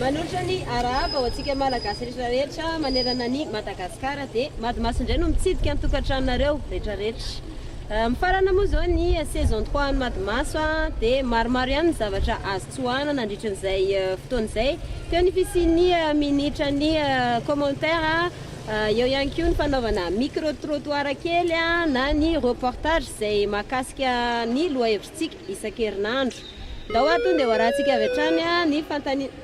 Manolotra ny arahaba ho antsika Malagasy rehetra rehetra manerana an'i Madagasikara dia Mady Maso indray no mitsidika ny tokantranonareo rehetra rehetra. Mifarana moa izao ny saison 3 an'i Mady Maso dia maromaro ihany ny zavatra azo Tsoahina nandritra izay fotoana izay. Teo ny fisian'ny minitran'ny commentaire, eo ihany koa ny fanaovana micro trottoir kely na ny reportage izay mahakasika ny lohahevitritsika isan-kerinandro. Ndao ato dia ho arahantsika avy hatrany ny fanontaniana.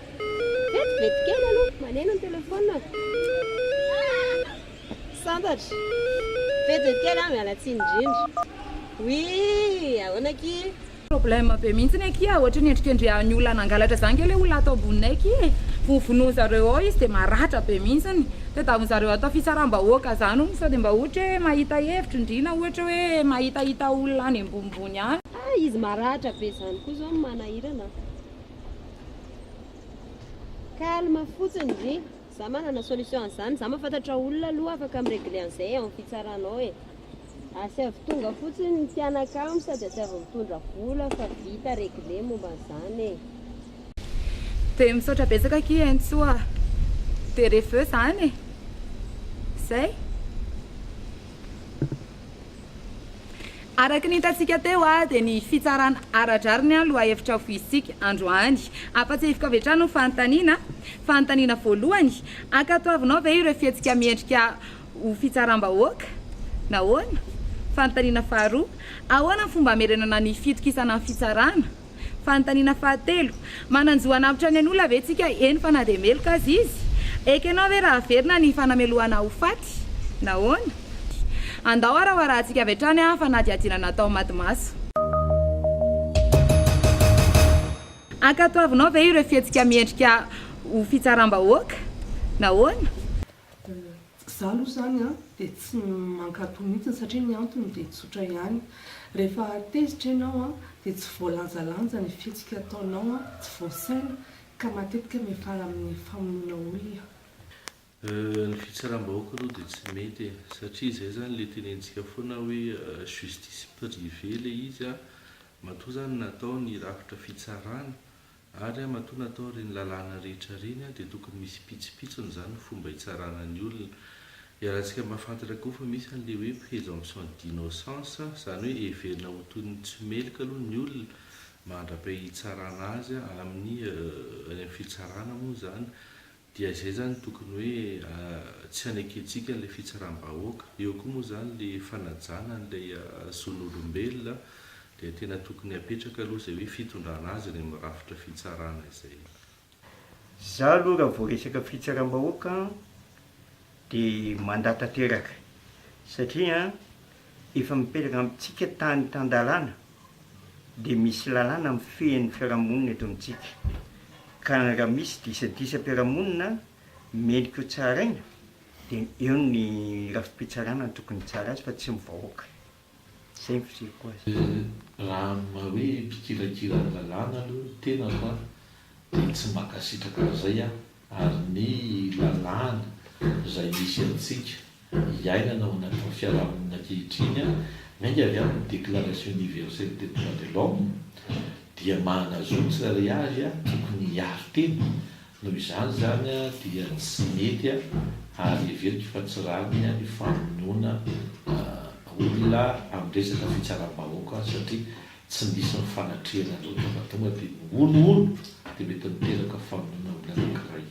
Vetivety kely aloha, maneno ny telephone. Tsy santatra. Vetivety kely an, miala tsiny indrindra. Oui, ahoana akia? Problème be mihitsiny akia ohatry ny endrikendrehan'ny olona nangalatra zany nge le olona ato amboninay akia e! Ho vonoiny zareo ao izy de maratra be mihitsiny! Tadiaviny zareo atao fitsaram-bahoaka zany hono sao de mba ohatra hoe mahita hevitry ny ndriana ohatra hoe mahitahita olona any ambonimbony any. Ah izy maratra be zany koa zao no manahirana an! Calme fotsiny ndry! Za manana solution an'izany, za mahafantatra olona aloha afaka mi-regler an'izay ao amin'ny fitsarana ao e! Asaivo tonga fotsiny ny mpianakamo sady asaivo mitondra vola fa vita regle momba an'izany e. Dia misaotra betsaka akia Hentsoa a! Dia reveux izany e! Izay. Araka ny hitantsika teo dia ny fitsarana ara-drariny ny lohahevitra voizintsika androany. Ampahatsiahiviko avy hatrany ny fanontaniana, fanontaniana voalohany, Ankatoavinao ve ireo fihetsika miendrika Ho fitsaram-bahoaka? Nahoana? Fanontaniana faharoa, Ahoana ny fomba hamerenana ny fitokisana ny fitsarana? Fanontaniana fahatelo, Manan-jo hanavotra ny an'olona ve tsika? Eny fa na dia meloka aza izy? Ekenao ve raha averina ny fanamelohana ho faty? Nahoana? Andao harahoarahantsika avy hatrany ny fanadihadiana natao maty maso. Ankatoavinao ve ireo fihetsika miendrika ho fitsaram-bahoaka? Nahoana? Izaho aloha izany dia tsy mankatò mihitsy satria ny antony dia tsotra ihany. Rehefa tezitra ianao dia tsy voalanjalanja ny fihetsika ataonao, tsy voasaina ka matetika miafara amin'ny famonoana olona. Ny fitsaram-bahoaka aloha dia tsy mety e! Satria izay izany ilay tenentsika foana hoe justice privée ilay izy, matoa izany natao ny rafitra fitsarana Ary a matoa natao ireny lalàna rehetra ireny a dia tokony misy mpitsipitsiny izany ny fomba hitsarana ny olona. Iarahantsika mahafantatra koa fa misy an'ilay hoe présomption d'innocence, izany hoe heverina ho toy ny tsy meloka aloha ny olona mandra-pahitsarana azy amin'ny any amin'ny fitsarana moa izany Dia zay zany tokony hoe tsy hanekentsika ilay fitsaram-bahoaka. Eo koa moa zany le fanajana an'ilay zon'olombelona dia tena tokony apetraka aloha izay hoe fitondrana azy any amin'ny rafitra fitsarana izay. Za aloha raha vao resaka fitsaram-bahoaka dia mandà tanteraka satria an. efa mipetraka amintsika tany tan-dalàna dia misy lalàna mifehy ny fiarahamonina eto amintsika ka raha misy disadisam-piarahamonina mendrika ho tsaraina dia eo ny rafi-pitsarana no tokony hitsara azy fa tsy ny vahoaka. Izay ny fizeriko azy. Raha amin'ny maha hoe mpikirakira ny lalàna aloha ny tenako dia tsy mankasitraka an'izay aho ary ny lalàna izay misy antsika iainana ao anatin'ny fiarahamonina ankehitriny, miainga avy amin'ny Déclaration Universelle des Droits de l'Homme, dia mahanazoa ny tsirairay avy tokony hiaro tena, noho izany izany dia tsy mety ary heveriko fa tsy rariny ny famonoana olona amin'ny resaka fitsaram-bahoaka satria Tsy misy ny fanatrehana an'ireo tabataba dia ny hono hono dia mety miteraka famonoana amin'ny anankiray.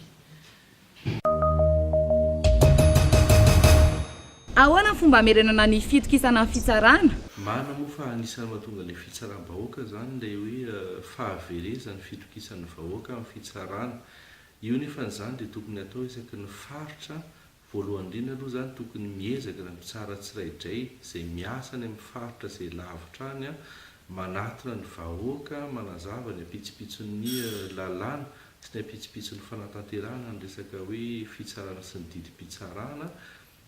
Ahoana ny fomba hamerenana ny fitokisana ny fitsarana? Marina moa fa anisan'ny mahatonga ny fitsaram-bahoaka izany ilay hoe fahaverezan'ny fitokisan'ny vahoaka amin'ny fitsarana. Io nefa izany dia tokony hatao isaky ny faritra Voalohany indrindra aloha zany tokony miezaka ny mpitsara tsiraidray izay miasa any amin'ny faritra izay lavitra any manatona ny vahoaka, manazava ny ampitsopitson'ny lalàna sy ny ampitsopitson'ny fanatanterahana ny resaka hoe fitsarana sy ny didim-pitsarana.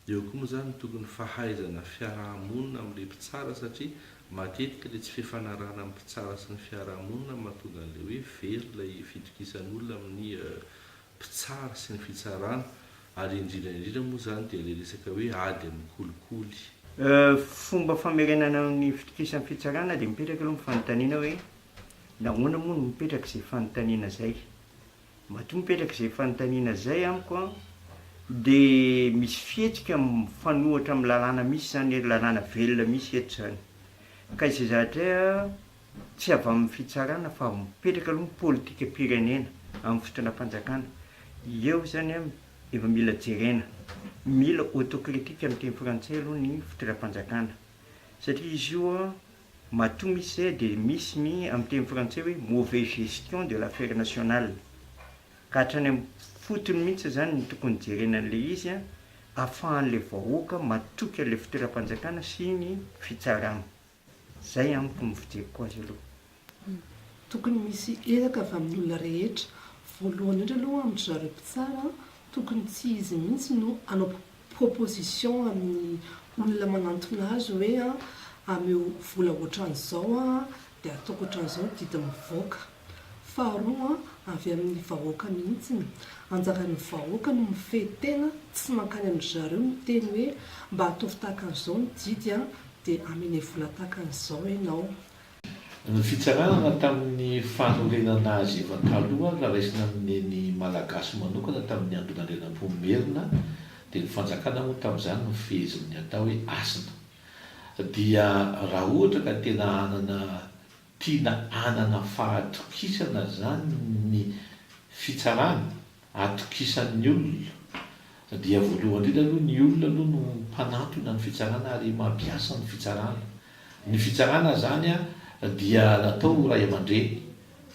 Eo koa moa izany ny tokony fahaizana fiaraha-monina amin'ilay mpitsara satria matetika ilay tsy fifanarahana amin'ny mpitsara sy ny fiaraha-monina no mahatonga an'ilay hoe very ilay fitokisan'olona amin'ny mpitsara sy ny fitsarana ary indrindra indrindra moa izany dia ilay resaka hoe ady amin'ny kolikoly. Fomba famerenana ny fitokisan'ny fitsarana dia mipetraka aloha ny fanontaniana hoe nahoana moa no mipetraka izay fanontaniana izay? Matoa mipetraka izay fanontaniana izay amiko dia misy fihetsika mifanohitra amin'ny lalàna misy izany, lalàna velona misy eto izany ka izay zavatra tsy avy amin'ny fitsarana fa mipetraka aloha ny politikam-pirenena amin'ny fitondram-panjakana. Eo izany efa mila jerena, mila autocritique amin'ny teny frantsay aloha ny fitondram-panjakana satria izy io matoa misy izay dia misy ny amin'ny teny frantsay hoe mauvaise gestion de l'affaire nationale ka hatrany amin'ny fotony mihitsy izany no tokony hijerena an'ilay izy ahafahan'ilay vahoaka matoky an'ilay fitondram-panjakana sy ny fitsarana. Zay amiko ny fijeriko azy aloha. Tokony misy ezaka avy amin'ny olona rehetra. Voalohany indrindra aloha amin-dry zareo mpitsara, tokony tsy izy mihitsy no hanao proposition amin'ny olona manantona azy hoe ameo vola ohatran'izao dia ataoko ohatran'izao didy mivoaka. Faharoa avy amin'ny vahoaka mihitsiny, anjaran'ny vahoaka no mifehy tena tsy mankany amin-dry zareo miteny hoe mba ataovy tahaka an'izao ny didy an, dia amene vola tahaka an'izao ianao. Ny fitsaranana tamin'ny fanorenana azy efa taloha ary raisina amin'ny Neny Malagasy manokana tamin'ny andron'Andrianampoinimerina, dia ny fanjakana moa tamin'izany no fehezin'ny atao hoe hasina. Dia raha ohatra ka tena hanana Tiana hanana fahatokisana zany ny fitsarana, atokisan'ny olona, dia voalohany indrindra aloha ny olona aloha no mpanatona ny fitsarana ary mampiasa ny fitsarana. Ny fitsarana zany dia natao ho ray aman-dreny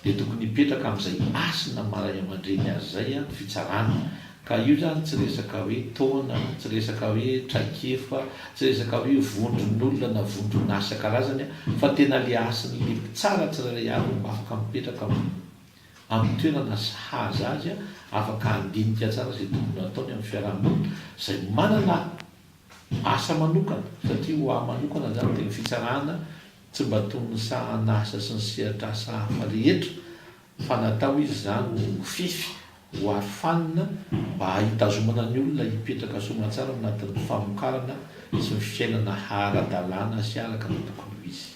dia tokony hipetraka amin'izay hasina maha ray aman-dreny azy izay ny fitsarana Ka io zany tsy resaka hoe taona, tsy resaka hoe traikefa, tsy resaka hoe vondron'olona na vondron'asa karazany fa tena le hasin'le mpitsara tsirairay avy no mba afaka mipetraka amin'ny toerana sahaza azy afaka handinika tsara izay tokony hataony amin'ny fiarahamonina izay manana asa manokana satria ho ahy manokana zany dia ny fitsarana tsy mba toy ny sahan'asa sy ny sehatr'asa hafa rehetra fa natao izy izany ho fify, ho arofanina mba hitazomana ny olona hipetraka soamatsara ao anatin'ny famokarana sy ny fiainana ara-dalàna sy araka ny tokony ho izy.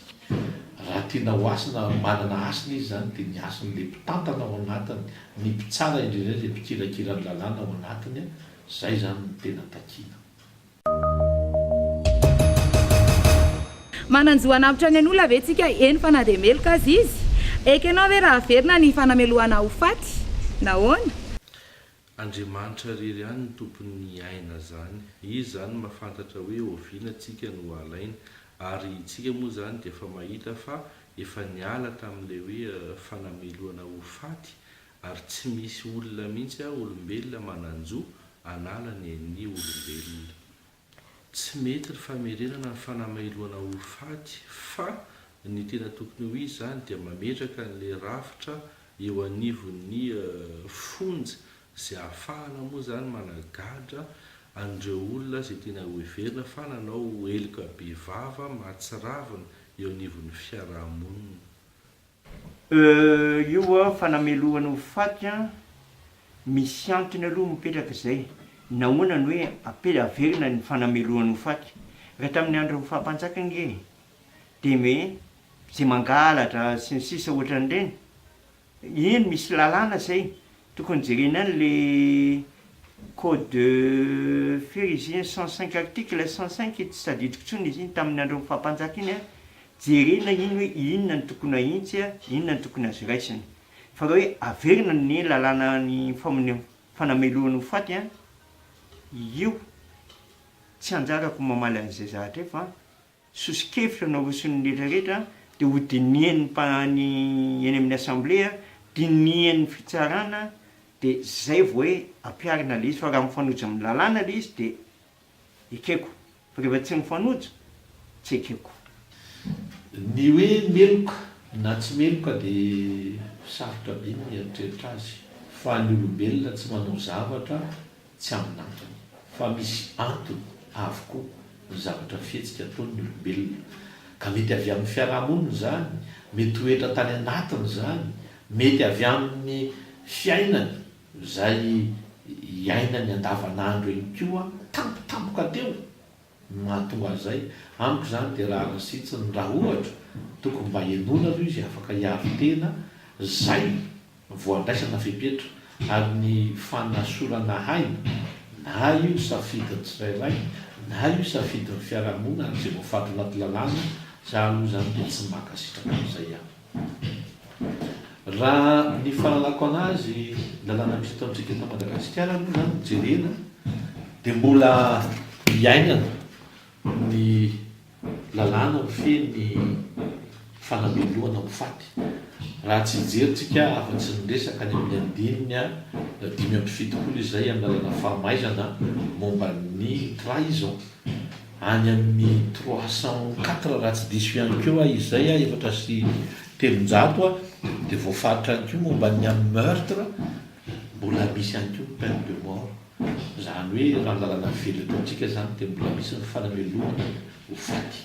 Raha tiana ho hasina, manana hasina izy izany dia ny hasin'ilay mpitantana ao anatiny, ny mpitsara indrindray, ilay mpikirakira ny lalàna ao anatiny, izay izany no tena takiana. Manan-jo hanavotra ny an'olona ve tsika? Eny fa na dia meloka aza izy. Ekenao ve raha averina ny fanamelohana ho faty? Nahoana? Andriamanitra irery ihany no tompon'ny aina zany. Izy izany mahafantatra hoe oviana tsika no halainy. Ary tsika moa izany dia efa mahita fa efa niala tamin'ilay hoe fanamelohana ho faty Ary tsy misy olona mihitsy aho olombelona manan-jo hanala ny an'ny olombelona. Tsy mety ny famerenana ny fanamailoana ho faty fa ny tena tokony ho izy izany dia mametraka an'ilay rafitra eo anivon'ny fonja izay ahafahana moa izany managadra an'ireo olona izay tena hoheverina fa nanao heloka bevava mahatsiravina eo anivon'ny fiarahamonina. Euh io an fanamelohana ho faty an misy antony aloha mipetraka izay, nahoana no hoe ape averina ny fanamelohana ho faty? Raha tamin'ny andron'ny faha mpanjaka ange dia me izay mangalatra sy ny sisa ohatran'ireny, eny misy lalàna izay Tokony jerena any le code de fery izy iny cent cinq article cent cinq tsy tadidiko tsony izy iny taminy andro ny fapanjaka iny an, jerena iny hoe inona no tokony ahitsy an, inona no tokony azo raisina fa raha hoe averina ny lalàna ny fanamelohany ho faty an, io tsy anjarako mamaly an'izay zahatra io fa. Soso-kevitra naroson'ny rehetra rehetra dia ho dinihin'ny mpa ny eny amin'ny assemblée, dinihin'ny fitsarana dia zay vao hoe ampiharina le izy fa raha mifanojo amin'ny lalàna le izy dia ekeko fa rehefa tsy mifanojo tsy ekeko. Ny hoe meloka na tsy meloka dia sarotra be ny mieritreritra azy fa ny olombelona tsy manao zavatra Tsy amin'antony, fa misy antony avokoa ny zavatra fihetsika ataon'ny olombelona. Ka mety avy amin'ny fiarahamonina izany, mety toetra tany anatiny izany, mety avy amin'ny fiainany izay iainany andavanandro ihany koa tampotampoka teo Ny mahatonga azy izay, amiko izany dia rariny sitsiny raha ohatra tokony mba henoina aloha izy afaka hiaro tena izay vao andraisana fepetra ary ny fanasorana aina na io safidin'ny tsirairay na io safidin'ny fiarahamonina ary izay voafaritra anaty lalàna, za aloha izany dia tsy mankasitraka an'izay aho. Raha ny fahalalako anazy lalàna misy eto amintsika eto Madagasikara aloha zany no jerena dia mbola iainana ny lalàna mifehy ny fanamelohana ho faty raha tsy hijerintsika afa-tsy ny resaka any amin'ny andininy dimy amby fitopolo izay amin'ny lalàna fahamaizana momba ny trahison. any amin'ny trois cent quatre raha tsy diso ihany koa aho izay a, efatra sy telonjato a, dia voafaritra ihany koa momba ny amin'ny meurtre, mbola misy ihany koa ny peine de mort, izany hoe raha ny lalana velona eto amintsika izany dia mbola misy ny fanamelohana ho faty.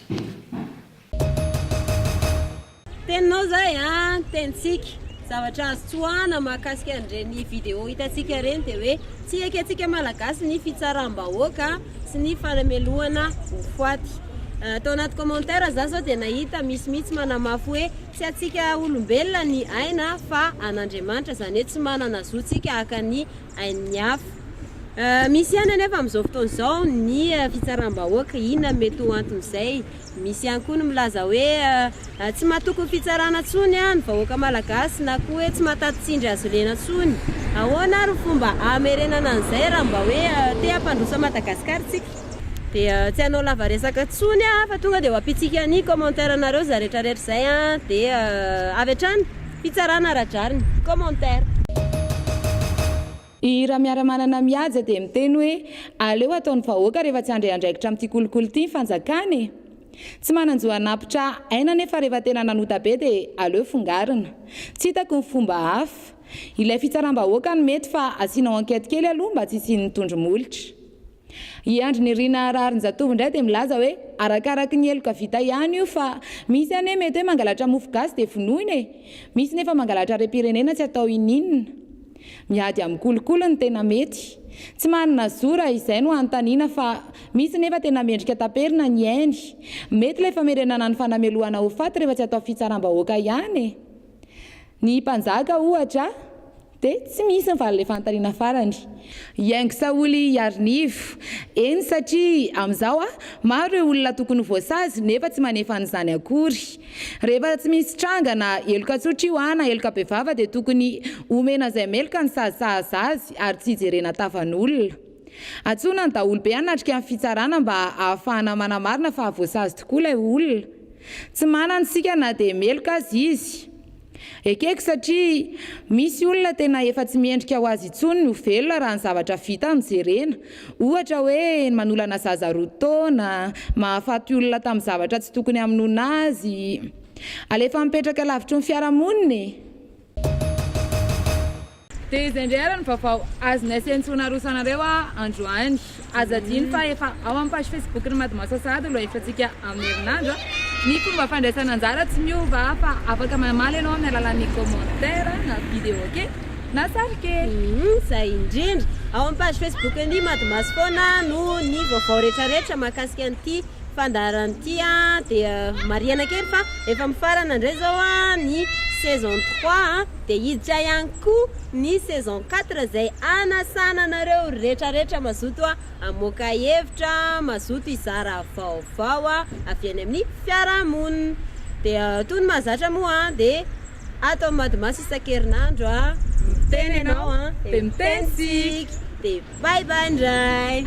Teninao zay a, tenintsika. Zavatra azo tsoahana mahakasika an'ireny vidéo hitantsika ireny dia hoe tsy ekentsika Malagasy ny fitsaram-bahoaka sy ny fanamelohana voafaty. Tao anaty commentaire za zao dia nahita misy mihitsy manamafy hoe tsy antsika olombelona ny aina fa an'Andriamanitra, izany hoe tsy manana zo tsika haka ny ain'ny hafa. Misy ihany anefa amin'izao fotoana izao ny fitsaram-bahoaka, inona no mety ho anton'izay? Misy ihany koa ny milaza hoe tsy mahatoky ny fitsarana intsony ny vahoaka malagasy na koa hoe tsy mahataty tsindry hazolena intsony. Ahoana ary ny fomba hamerenana an'izay raha mba hoe te hampandroso an'i Madagasikara isika? Dia tsy hanao lava resaka intsony aho fa tonga dia ho ampiantsika ny commentaire anareo izay rehetrarehetra izay dia avy hatrany fitsarana ara-drariny. Commentaire. I Ramiaramanana Mihaja dia miteny hoe aleo atao ny vahoaka rehefa tsy handre andraikitra amin'ity kolikoly ity ny fanjakana e! Tsy manan-jo hanapitra aina nefa rehefa tena nanota be dia aleo fongarina. Tsy hitako ny fomba hafa. Ilay fitsaram-bahoaka no mety fa asianao enquête kely aloha mba tsy hisian'ny tondro-molotra. I Andry Nirina Raharinjatovo indray dia milaza hoe arakaraky ny heloka vita ihany io fa misy anie mety hoe mangalatra mofo gasy dia vonoina e! Misy nefa mangalatra harem-pirenena tsy atao ininona. Miady amin'ny kolikoly no tena mety. Tsy manana zo raha izay no anontaniana fa misy nefa tena mendrika taperina ny ainy. Mety ilay famerenana ny fanamelohana ho faty rehefa tsy atao fitsaram-bahoaka ihany e! Ny mpanjaka ohatra. Dia tsy misy ny valalefantarina farany. Iaingo Saholy Iarinivo, Eny satria amin'izao maro ireo olona tokony ho voasazy nefa tsy manefa an'izany akory. Rehefa tsy misy tranga na heloka tsotra io na heloka bevava dia tokony omena izay meloka ny sazy sahaza azy ary tsy hijerena tavan'olona. Antsoina ny daholobe hanatrika ny fitsarana mba hahafahana manamarina fa voasazy tokoa ilay olona. Tsy manana isika na dia meloka aza izy. Ekeko satria misy olona tena efa tsy mendrika ho azy intsony ny ho velona raha ny zavatra vita no jerena. Ohatra hoe ny manolana zaza roa taona, mahafaty olona tamin'ny zavatra tsy tokony hamonoana azy. Alefa mipetraka lavitry ny fiarahamonina e! Dia izay indray ary ny vaovao azonay sy antsoina arosanareo androany. Aza adino fa efa ao amin'ny page Facebook-n'ny Madmasasahady no lohahevitrantsika amin'ny herinandro. Ny fomba fandraisana anjara tsy miova fa afaka mamaly ianao amin'ny alalan'ny commentaire na vidéo kely na sary kely. Izay indrindra. Ao amin'ny page Facebook-n'ny Madmas foana no ny vaovao rehetrarehetra mahakasika an'ity fandaharana ity. Dia marihana kely fa efa mifarana indray izao ny saison trois. Dia hiditra ihany koa ny saison quatre izay hanasana anareo rehetra rehetra mazoto hamoaka hevitra, mazoto hizara vaovao avy any amin'ny fiarahamonina. Dia toy ny mahazatra moa dia ato amin'ny Madimaso isan-kerinandro miteny ianao dia miteny isika. Bye bye ndray.